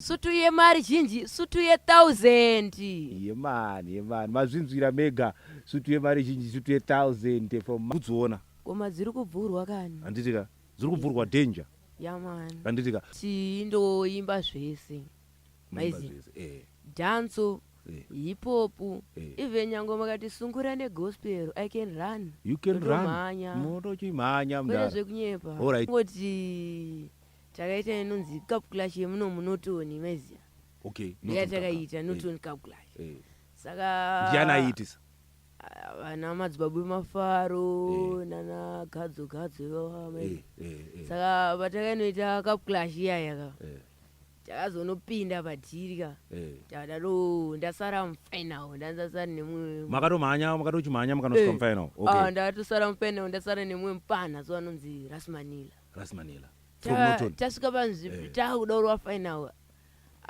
sutu yemari zhinji sutu yethousand yemani yemani mazvinzwira mega sutu yemari zhinji sutu yethousand from kudziona koma dziri kubvurwa kani handiti ka dziri kubvurwa danger yamani handiti ka chii ndoimba zvese maizi eh. danso eh. hipopu eh. even nyange makati sungura negospel i can run you can run motochimhanya mdara zvekunyepa alright ngoti takaita inonzi calculation yemuno munotoni maiziva okay ndiya takaita notoni calculation eh. saka ndiani aiitisa ah, vana madzibaba emafaro eh. nana gadzo gadzo ivava mai eh, saka patakainoita calculation iyaya ka takazonopinda padhiri ka takadaro ndasara mufinal ndanzasara nemumwe makatomhanya makatochimhanya makanosvika mufinal ah, ndakatosara mufinal ndasara nemumwe mupana so anonzi rasmanila Rasmanela. From Ta- Norton. tasvika panzvi Eh. takuda kurova final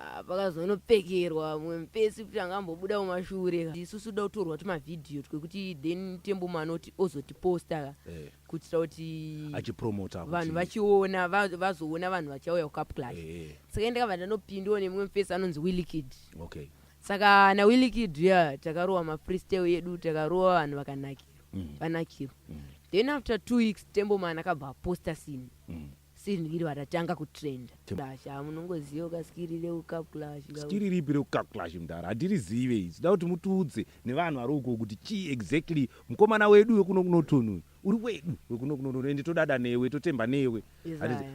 Ah, pakazonopfekerwa mumwe mupesi kuti anga ambobuda mumashure ka. isusu toda kutorwa tumavhidhiyo twekuti then temboma anoti ozotiposta ka Eh, kuitira kuti achipromota kuti- vanhu vachiona va- vazoona vanhu vachauya kucap clash Eh, eh, saka ndakabva ndanopindiwa nemumwe mupesi anonzi willikid okay. saka nawillikid uya takarowa mafreestyle edu takarowa vanhu vakanakirwa mm. vanakiro mm. then after two weeks tembo man akabva aposta sini mm. sini iri vatatanga kutrenda clash amunongoziva ah, ka skiri reucap clash skiri ripi reucap clash mdara hatirizive izi da kuti mutiudze nevanhu vari uko kuti chii exactly mukomana wedu wekuno kunotonuyu uri wedu wekuno kunotonuyu ende todada newe totemba newe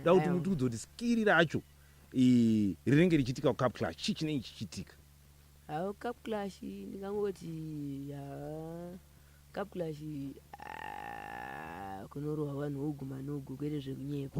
da kuti mutiudze kuti skiri racho rinenge richiitika kucap clash chii chinenge chichiitika Haa cup clash ndingangoti haa cup clash kunorohwa vanhu ugu mani ugu kwete zvekunyepa.